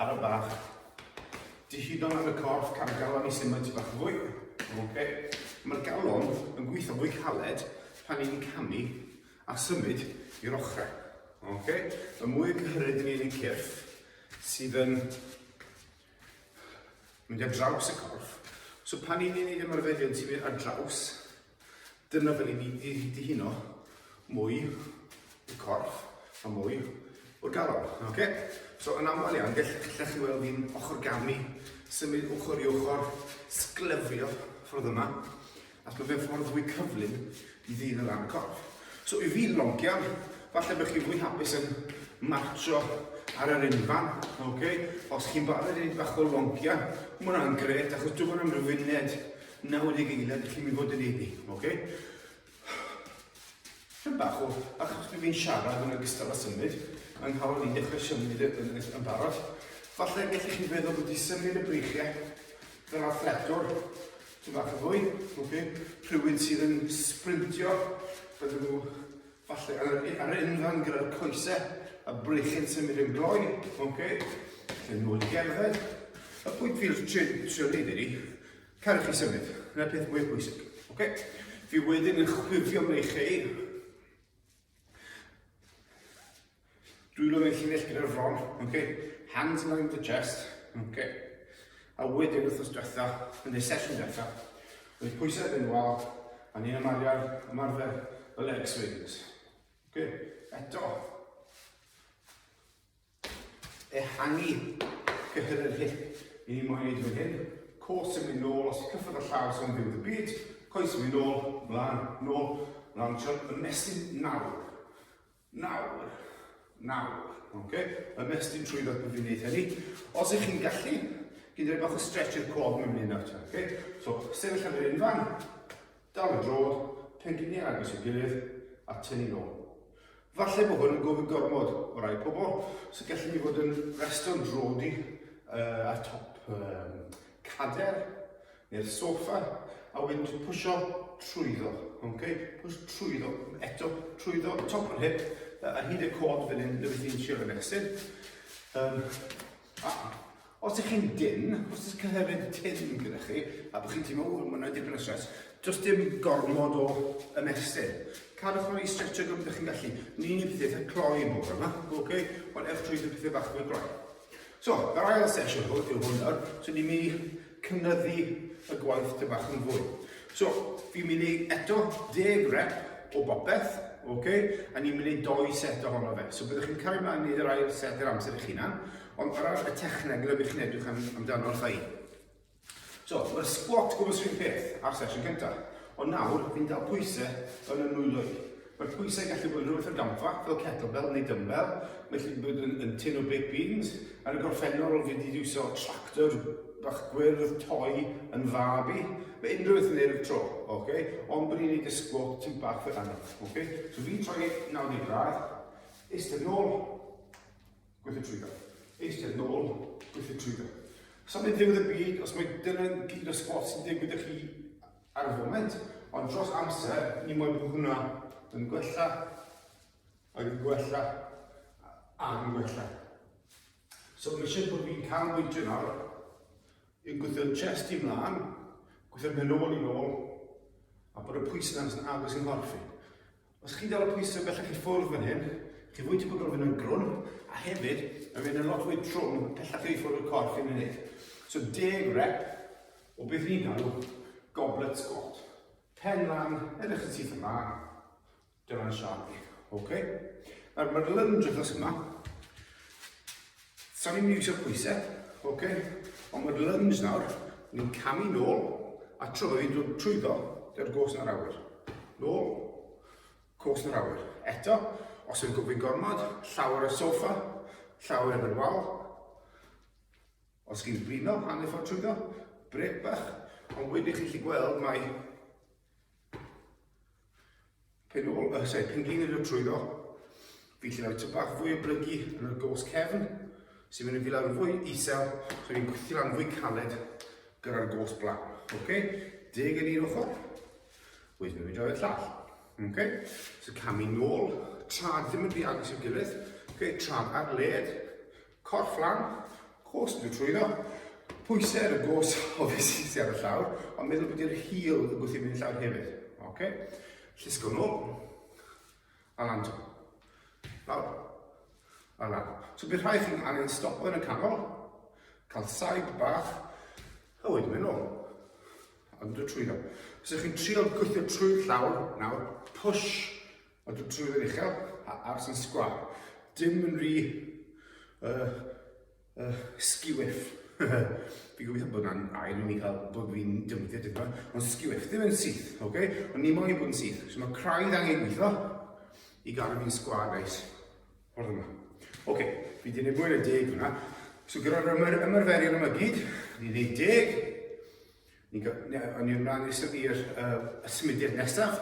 Ar y bach. Dihidon yn y corff, cael galon i symud ti bach fwy. Okay. Mae'r galon yn gweithio fwy caled pan ni'n camu a symud i'r ochrau. Okay. Y mwy y cyhyryd yn un cyrff sydd yn mynd ar draws y corff. So pan ni'n ei wneud ymarferion ti'n mynd ar draws Dyna fel i ni i ddihuno mwy y corff a mwy o'r galon. Okay? So yn aml iawn, gallech chi weld fi'n ochr gamu, symud ochr i ochr, sglyfio ffordd yma, ac mae fe'n ffordd fwy cyflym i ddyn o ran y corff. So i fi loncian, falle bych chi'n fwy hapus yn marcho ar yr unfan, okay? os chi'n barod i wneud bach o loncian, mae hwnna'n gret, achos dwi'n yn amrywyned Nawr yn ei geiliad, i chi'n mynd fod yn ei ni, oce? Okay? Rhywbeth bach o, achos bydd fi'n siarad yn ogystal â symud, mae'n hawdd i ddechrau symud yn, yn, yn, yn barod. Falle gallech chi feddwl bod i symud y breichiau fel athletwr, ti'n bach o fwy, oce? Okay? Rhywun sydd yn sprintio, bydden nhw Falle ar y, ar y unfan gyda'r coesau a breichyn sy'n mynd yn gloi. Oce. Okay. Felly nôl i gerdded. Y pwynt fi'n trio neud ydi, cael chi symud. Yna peth mwy bwysig. Oce. Okay. Fi wedyn yn chwifio mewn i chi. Dwylo yn y llinell gyda'r fron, okay? Hands around the chest, okay? A wedyn wrthnos diwetha, yn y sesiwn diwetha, oedd pwysau yn wal, a ni'n ymarfer, ymarfer y leg swings. Okay? Eto. Ehangu cyhyr yr hip. Ni ni'n moyn gwneud hyn. Cwrs yn mynd nôl, os cyffwrdd y llaw sy'n byw y byd, coes yn mynd nôl, mlaen, nôl, mlaen, siol, y mesyn nawr. Nawr, nawr, oce, ymestyn trwy ddat bydd fi'n neud hynny. Os ych chi'n gallu, gyd rhaid bach o stretch i'r cof mewn un nawr, oce? So, sefyll am yr un fan, dal y drod, pengliniau agos i'w gilydd, a tynnu nôl. Falle bod hwn yn gofyn gormod o rai pobl, so gallwn ni fod yn resto'n drodi uh, ar top um, cader, Neu'r soffa, a wedyn ti'n pwysio trwyddo, okay? Pwys trwyddo, eto trwyddo, top o'r hip, ar hyd y cod fan hyn, neu beth i'n siarad yn exit. Um, a, os ydych chi'n dyn, os ydych chi'n hefyd tyn gyda chi, a bod chi'n teimlo, ww, mae'n rhaid dipyn o stres, does dim gormod o ymestyn. Cadwch o'n i stretcho gymryd ydych chi'n gallu. Ni'n ei pethau eitha cloi yn bod yma, okay? Ond ewch trwy y pethau bach fwy gloi. So, yr ail sesiwn hwn yw hwn nawr, so ni'n mynd i cynyddu y gwaith ty bach yn fwy. So, fi'n mynd i eto deg rep o bopeth, okay? a ni'n mynd i doi set ohono fe. So byddwch chi'n cael ei mlaen i yr ail set yr amser eich hunan, ond ar y technegol ydych chi'n edrych amdano chi. So, mae'r squat gwrs rhywun peth ar sesiwn gyntaf, ond nawr fi'n dal pwysau yn y nwyloedd. Mae'r pwysau gallu bod yn rhywbeth o'r gamfa, fel kettlebell neu dumbbell, mae gallu bod yn, yn tin o baked beans, ar y gorffennol fi wedi iwsio tractor bach gwyrdd toi yn fab i, mae unrhyw beth yn ei tro, okay? ond bod ni'n ei dysgwo ti'n bach fel anodd. Okay? So fi'n troi 90 gradd, eistedd nôl, Gweithio trwyddo. Eistedd nôl. Gweithio trwyddo. Os am ddiwedd y byd, os mae dyna gyd o sbot sy'n digwydd i chi ar y foment, ond dros amser, ni moyn bod hwnna yn gwella, ac yn gwella, ac yn gwella. So mae eisiau bod fi'n cael bwyntio nawr, yn gweithio chest i mlaen, gweithio pen ôl i'n ôl, a bod y pwys yna'n agos i'n horff i. Os chi'n dal y pwysau bellach i ffwrdd fan hyn, chi'n fwy tebygol o fynd yn grwn, a hefyd, mae'n mynd yn lot fwy trwm pellach i ffwrdd y corff yn unig. So 10 rep o beth ni'n galw goblet squat. Pen lan, edrych yn syth yma, dyna'n siarad i. Okay? Nawr, mae'r lunge wrth yma, Sa'n ni'n mynd i trio pwysau, ok? Ond mae'r lunge nawr, ni'n camu nôl, a tro fi'n dod trwyddo, dy'r gos yn yr awyr. Nôl, cos yn yr awyr. Eto, os yn gwybod gormod, llawer y sofa, llawer yn yr wal. Os chi'n blino, hanner ffordd trwyddo, brec bach, ond wedyn chi'n chi gweld mae Pyn ôl, uh, sorry, pyn gyn i'r trwyddo, fi'n lle rhoi tyn bach fwy o blygu yn y gos cefn, sy'n mynd i fi lawr yn fwy isel, so fi'n gwythio lan fwy caled gyda'r gos blaen. Okay? Deg yn un ochr, wedyn fi'n rhoi y llall. Okay? So camu nôl, trad ddim yn rhy agos i'w gilydd, okay? trad ar led, Corff fflam, gôs yn y trwyddo, pwysau ar y gôs o fe sy'n sy'n ar y llawr, ond meddwl bod i'r hil yn gwthio mynd llawr hefyd. Oce? Llusgo nhw. A lan to. Lawr. A lan. So bydd rhai chi'n angen stop yn y canol, cael saib bach, a wedyn mynd nôl. Ond y trwyddo. Os ydych chi'n trio gweithio trwy'r llawr, nawr, push A dw trwydd yn uchel a ars yn sgwar. Dim yn rhi... Uh, uh, sgiwif. Fi gobeithio bod yna'n air i mi cael bod fi'n dymwyddiad yma, ond sgiwif, ddim yn syth, oce? Okay? Ond ni moyn i bod yn syth, so mae craidd angen gweithio i gael fi'n sgwar, guys. Ffordd yma. Oce, okay, fi wedi gwneud mwy na deg hwnna. So gyda'r ymarferion yma gyd, ni'n gwneud deg, Ni'n cael, ni'n rhan nesaf i'r uh, symudiad nesaf,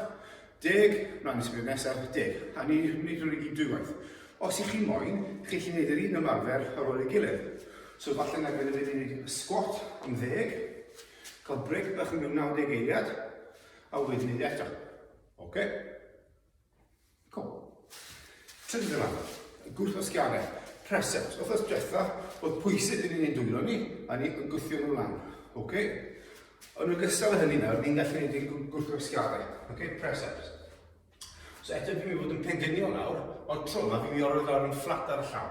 deg, rhan symudiad nesaf, deg. A ni'n gwneud hwn i gyd dwywaith. Os i chi moyn, chi chi'n gwneud yr un ymarfer ar ôl ei gilydd. So falle na gyda fi ni'n gwneud squat am ddeg, cael breg bach yn mynd 90 eiliad, a wedyn ni'n eto. Oce? Okay? Cwm. Trydydd yma, gwrth o sgianau, present. Wrth diwetha, oedd pwysig yn ni'n dwylo ni, a ni yn gwthio nhw lan. Ok? Yn ogystal â hynny nawr, ni'n gallu gwneud ein gwrth o sgianau. Ok? Present. So eto fi'n mynd fod yn pendyniol nawr, ond tro yma fi'n mynd i orfod lawr yn fflat ar y llaw.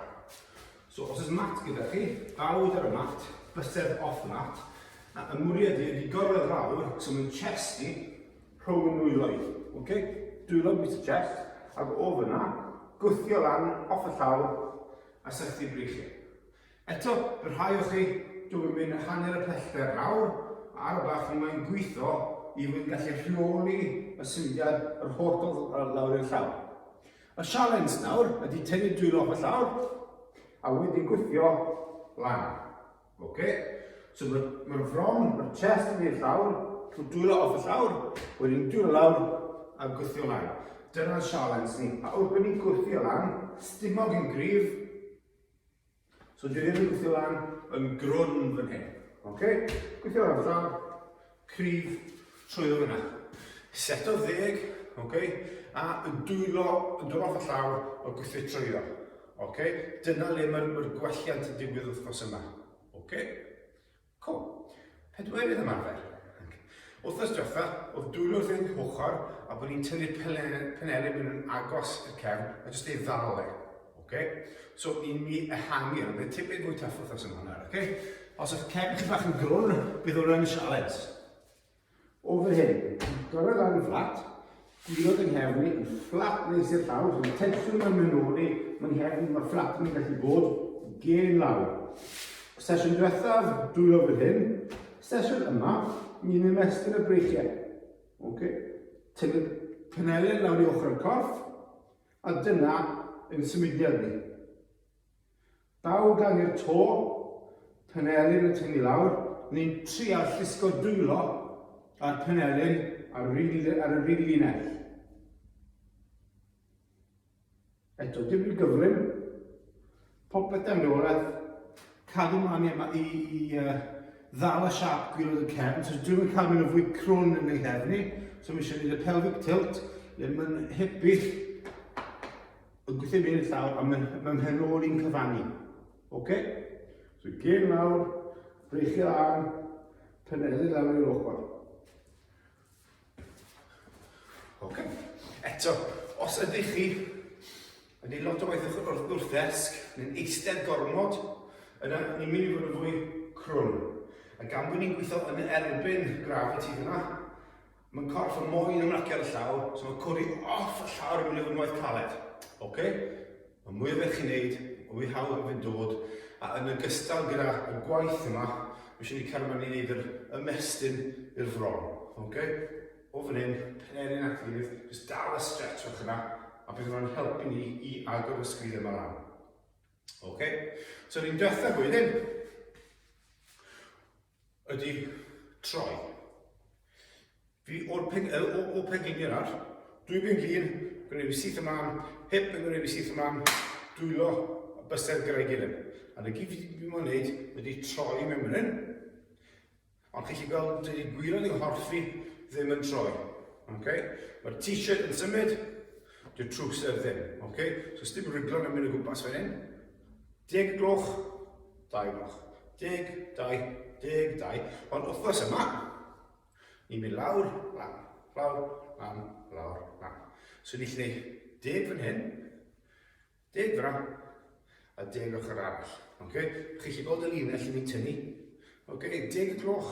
So os ys mat gyda chi, bawd ar y mat, bysedd off y mat, a ymwriad i ydi gorwedd lawr, so mae'n chest ni, rhwng y nwyloedd. Okay? Dwylo bwyta chest, ac o fyna, gwthio lan off y llaw a sychu breichiau. Eto, y rhai o chi, dwi'n yn mynd hanner y pellter lawr, ar y bach ni mae'n gweithio i fod yn gallu rheoli y symudiad yr holl gofod lawr i'r llaw. Y sialens nawr ydy tynnu dwylo off y llawr a wedyn gwythio lan. Ok, so mae'r ma fron, mae'r chest yn mynd i'r llawr, trwy dwylo off y llawr, wedyn dwylo lawr a gwthio lan. Dyna'r sialens ni. A wrth bod ni'n gwthio lan, stumog yn gryf, so dwi ddim yn gwthio lan yn grwn fan hyn. Ok, gwthio lan y llawr, cryf trwyddo fyna. Seto ddeg, ok, a yn dwylo, yn dod off y llawr, a gwythio trwyddo. Ok, dyna le mae'r ma gwelliant yn digwydd wythnos yma. Ok, cool. Pedwerydd ymarfer. Wythnos diwetha, oedd dwylo wrth ein hwchor, a bod ni'n tynnu'r penelin yn agos i'r cefn, a jyst ei ddal e. Oce, so i mi ehangu, ond bydd tipyn fwy tuff wrth ymwneud hwnna, oce? Os ydych cefn chi bach yn grwn, bydd hwnna'n sialens. O fan hyn, gorau lan yn fflat, gwylod yng nghefn i, yn fflat nes i'r llawr, so mae tensiwn yn mynd o'n i, mae'n nghefn, mae fflat yn gallu bod gen lawr. Sesiwn diwethaf, dwylo fan hyn, sesiwn yma, ni'n ymestyn y breichiau. Oce, tynnu penelen lawr i ochr y corff, A dyna ein symudiad ni. Daw gan i'r to, penelin yn tyngu lawr, ni'n trial llusgo dwylo a'r penelin ar yr un linell. Eto, dim yn gyflym. Popeth da fi orau. Cadw mlaen i, i, i uh, ddal y siap gwylod y cefn, so dwi'n mynd cael mynd o fwy crwn yn ei hefn i, so mi eisiau gwneud y pelvic tilt, le mae'n hybu yn gweithio mynd i'r llawr, a mae'n ma mhen ôl i'n cyfannu. Okay? So gen lawr, breichio lan, penelu lawr i'r ochr. Okay. Eto, os ydych chi yn ei lot o waith wrth, wrth, wrth ddesg, neu'n eistedd gormod, yna ni'n mynd i fod yn fwy crwn. A gan bod ni'n gweithio yn erbyn graf y ti fyna, mae'n corff yn moyn ymlacio ar y llaw, so mae'n codi off y llaw ar y mynd i fod yn waith caled. Okay? Mae mwy o beth chi'n neud, mae mwy hawdd yn fynd dod, a yn ogystal gyda y gwaith yma, mae eisiau ni cario mlaen i wneud yr ymestyn i'r fron. Okay? O fan hyn, penerin at gilydd, jyst dal y stretch o'ch yna, a bydd hwnna'n helpu ni i agor y sgrid yma lan. Okay? So, ni'n diwethaf wedyn, Ydy, troi. Fi o'r ping, o, o, o pingin i'r ar. Dwy bing lun, gwneud fi syth ymlaen, hip yn gwneud fi syth ymlaen, dwylo a bysedd gyda'i gilydd. A na gyd fi wedi bod yn gwneud ydy troi mewn fan hyn. Ond chi chi gweld, dydy gwir yn ei horfi ddim yn troi. Okay? Mae'r t-shirt yn symud, dy'r trwser ddim. Okay? So, dim ryglo'n yn mynd o gwmpas fan hyn. Deg gloch, dau gloch, deg, dau, deg, dau, ond wythnos yma, ni'n mynd lawr, lan, lawr, lan, lawr, lan. So ni'n lle deg fan hyn, deg fyna, a deg ochr arall. Okay? Chi'n lle gweld y linell ni'n tynnu? Okay? Deg y gloch,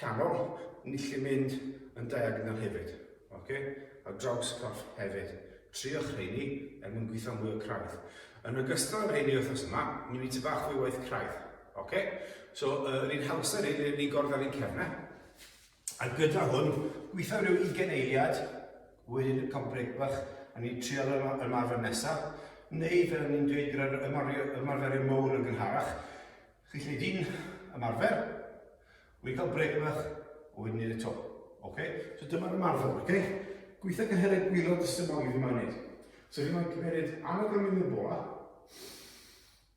canol, ni'n gallu mynd yn diagonal hefyd, ok? Ar draws y corff hefyd. Triwch rheini er mwyn gweithio mwy o craidd. Yn ogystal â rheini wythnos yma, ni'n mynd i bach fwy waith craidd, ok? So, uh, yr un hawsa ni, ni'n mynd gordd ar ein cefnau. A gyda hwn, gweithio rhyw 20 eiliad, wedyn cael brec bach, a ni'n trial ymarfer nesaf, neu fel ni'n dweud gyda'r ymarferio mowr yn gynharach, Chi lle di'n ymarfer, wedi cael brec bach, o wedyn ni'n eto. Ok? So dyma'r ymarfer, ok? Gweithio cyhyrau gwylod dysymol i fi mae'n neud. So fi mae'n cymeryd annog am mynd i'r bola,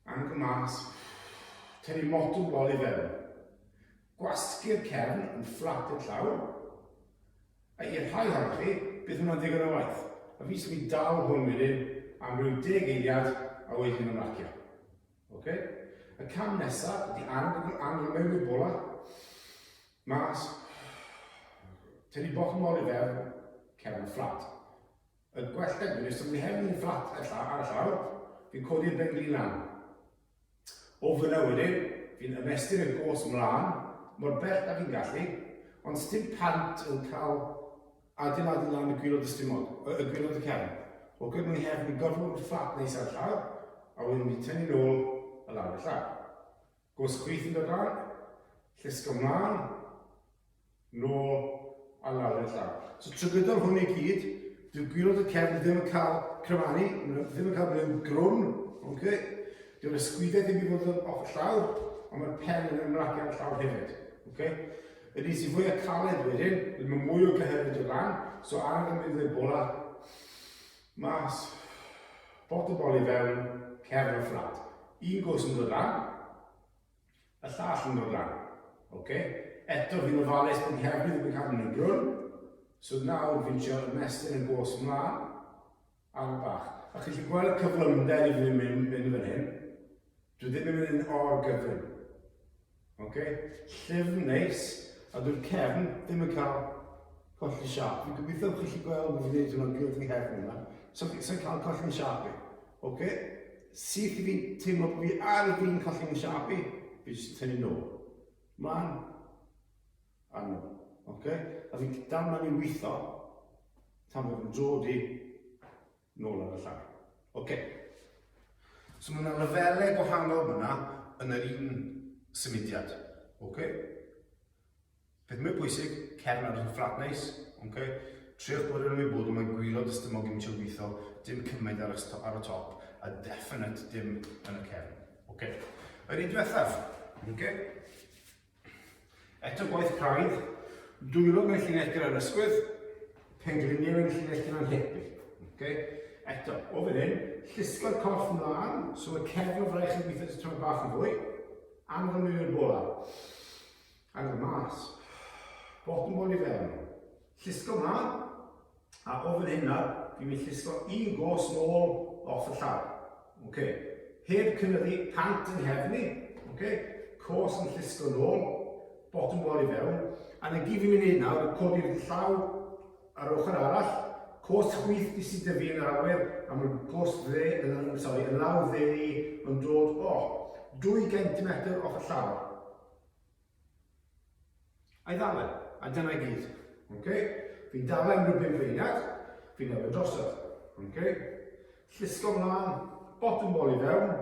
annog y mas, tynnu motwm bol i fewn. Gwasgu'r cefn yn fflat i'r llaw, a i'r rhai hawdd chi, bydd hwnna'n ddigon o waith. A fi sy'n mynd dal hwn wedyn am rhyw deg eiliad a wedyn yn marcio. Ok? Y cam nesaf ydy angen bod angen mewn i'r bola. Mas. Tynnu bottom mor i fewn. Cefn fflat. Y gwell deg yn ystod ni hefyd yn fflat ar y llawr. Fi'n codi'r ben glin lan. O fyna wedyn, fi'n ymestyn y gos mlaen, mor bell da fi'n gallu, ond styd pant yn cael Adeiladu lan y gwilod y stumog, y y gwilod y cefn. Ok maen nhw hefyd yn gorfod bod fflat neis ar y llawr a wedyn mynd i tynnu nôl y lawr y llawr. Gos chwith yn dod lan, llusgo mlaen, nôl a lawr y llawr. So trwy gydol hwn i gyd, dyw gwilod y cefn ddim yn cael cryfanu, ddim yn cael rhyw grwn, ok? Dyw'r ysgwydau ddim i fod yn off y llawr, ond mae'r pen yn ymlacio ar y llawr hefyd, ok? Yr un sydd fwya caled wedyn, wedyn mae mwy o gyhyryd o lan, so ar y mynd i'r bola, mas, bot y bol i fewn, cefn o fflat. Un gos yn dod lan, y llall yn dod lan. Okay? Eto fi'n ofalus bod hefyd yn cael yn y brwn, so nawr fi'n trio ymestyn y gos ymlaen, Ail bach. A chi chi gweld y cyflymder i ddim yn mynd yn hyn? Dwi ddim yn mynd yn o'r gyflym. Ok? Llyfn neis, a dwi'n cefn ddim yn cael colli siap. Dwi'n gobeithio chi chi gweld fi wneud hwnna'n gwrdd fi hefyd yma. So, so cael colli'n siap i. Ok? Syth i fi teimlo bod fi ar y fi'n colli'n siap i, fi jyst yn tynnu nôl. Mlaen. Arno. Ok? A fi'n dal ma'n i weitho tan bod yn dod i nôl ar y llai. Ok. So mae yna lefelau gwahanol fyna yn yr un symudiad. Ok? Beth mwy bwysig, cefn ar y fflat neis, ok? Triwch bod yn ymwybod o mae gwirod ystymog yn eisiau weithio, dim cymaint ar y, ar y top, a definite dim yn y cefn. Ok. Yr un diwethaf, ok? Eto gwaith craidd, dwylo mewn llinell gyda'r ysgwydd, pengliniau mewn llinell gyda'n hepi. Okay? Eto, o fan hyn, llusgo'r corff ymlaen, so mae cefn o fraich yn gweithio at y tron bach yn fwy, anfon mewn i'r bola. Anfon mas. Bottom bol i fewn. Llusgo ymlaen, A o fan hynna, fi'n mynd llusgo un gos nôl off y llaw. Okay. Heb cynyddu pant yn nghefn i. Okay. Cos yn llusgo nôl, bottom wall i fewn. A na gyd fi'n mynd i nawr, codi'r llaw ar ochr arall, cos chwith di sydd dyfu yn yr awyr, a mae'r cos dde, yn, sorry, y law dde ni yn dod, o, oh, 2 gentimetr off y llaw. I ddalen, a dyna i gyd. Okay? Fi'n dalen am rhywbeth feiniad, fi'n newid drosodd. Okay? Llusgo mlaen, bottom ball i fewn,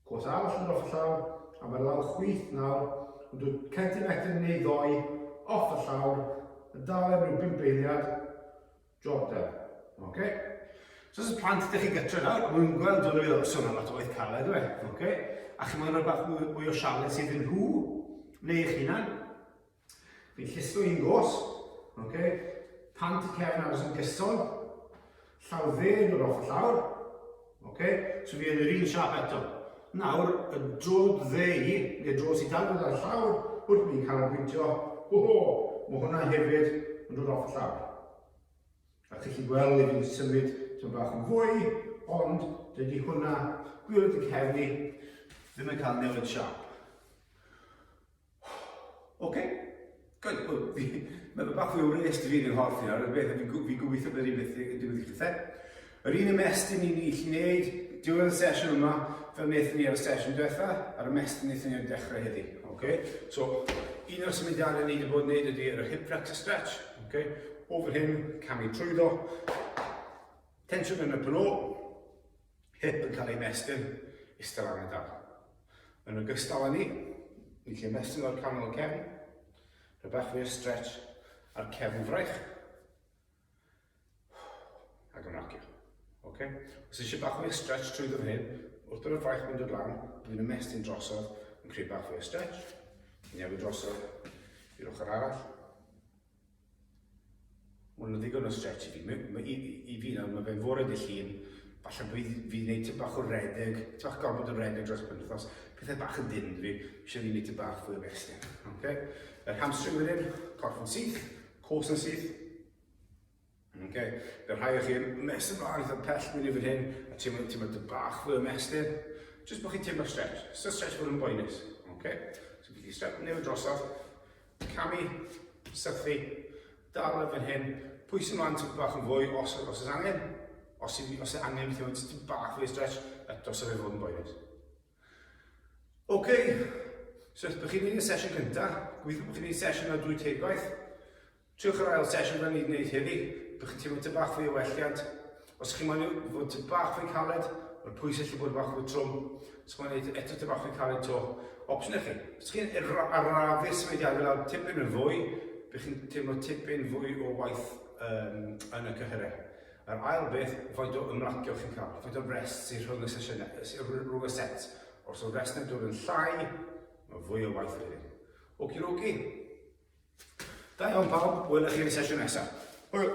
cwrs arall yn off y llawr, a mae'r lawr chwith nawr, ond dwi'n centimetr neu ddoi off y llawr, yn dalen rhyw bimp eiliad, Job done. Oce? So os y plant ydych chi'n gytra nawr, a maen nhw'n gweld hwn yn sôn am lot o waith caled, dwi. E? Oce? A chi'n meddwl rhywbeth mwy, mwy o sialens sydd yn nhw, neu eich hunan. Fi'n llistro un gos, oce? Pant y cefn aros yn gyson, llaw dde yn yr ochr llawr, Ok, so fi yn yr un siap eto. Nawr, y drod ddeu, neu drod sy'n dal gyda'r llawr, wrth ni'n cael y pwyntio, ho ho, mae hwnna hefyd yn dod off y llawr. A chi'n chi gweld i fi'n symud ti'n bach yn fwy, ond dydy hwnna, gwyrdd y cefni, ddim yn cael newid siap. Oce. Good. Wel, fi... Mae fe bach fwy o wres da fi yn hoff i nawr, y beth fi'n fi gobeithio bod yr un beth yn digwydd i chithe. Yr un ymestyn ni'n ei allu wneud, diwedd y sesiwn yma, fel wnaethon ni ar y sesiwn diwetha, a'r ymestyn wnaethon ni ar dechrau heddi. Okay? So, un o'r symudiadau ni wedi bod yn gwneud ydy yr hip flexor stretch. Okay? Over hyn, camu trwyddo. Tensiwn yn y plo. hip yn cael ei mestyn istel ar y dan. Yn ogystal â ni, ni'n lle mestyn o'r canol cefn, rhoi bach fwy o stretch ar cefn fraich. Ac yn racio. Okay? Os eisiau bach fwy o stretch trwy ddyn hyn, wrth bod y fraich mynd o'r lan, dwi'n ymestyn drosodd, yn creu bach fwy o stretch, newid drosodd i'r ochr arall, Mae hwnna'n ddigon o stretch i fi. Mae, mae, i, I fi nawr, mae fe'n fore dy llun, falle bydd fi wneud tyn bach o redeg, tyn bach gormod o redeg dros penwthnos, pethau bach yn dyn fi, eisiau fi wneud tyn bach fwy o resting. Okay? Yr hamstring wedyn, corff yn syth, cos yn syth, Okay. Fe rhai o chi yn mes ymlaen eitha pell mynd i fan hyn a teimlo ti mae dy bach fwy o mesur. Just bod chi'n teimlo stretch. So stretch bod yn boenus. Okay. So bydd i step newid drosodd. Camu, sythu, dal y fan hyn. Pwys ymlaen ti'n bach yn fwy os, os oes angen. Os, os oes angen, ti'n teimlo ti bach fwy o stretch, eto sef ei fod yn boenus. Ok, so os bych chi'n mynd i'r sesiwn cyntaf, gweithio bod chi'n mynd i'r sesiwn ar drwy tegwaith, triwch yr ail sesiwn fel ni'n gwneud heddi, bych chi'n teimlo tyd bach fwy o welliant. Os ydych chi'n mynd i fod tyd bach fwy caled, mae'r pwys allu bod bach fwy trwm, os chi'n mynd eto tyd bach fwy caled to, opsiwn eich chi. Os chi'n arafu symudiadau lawr tipyn yn fwy, bych chi'n teimlo tipyn fwy o waith um, yn y cyhyrau. Yr ail beth, faint o ymlacio chi'n cael, faint o rest sy'n rhwng y sesiynau, rhwng y sets. Os yw'r rest yn dod yn llai, mae fwy o waith yn hyn. Oki roki. Da iawn pawb, wylech chi'n y sesiwn nesaf. Hwyl!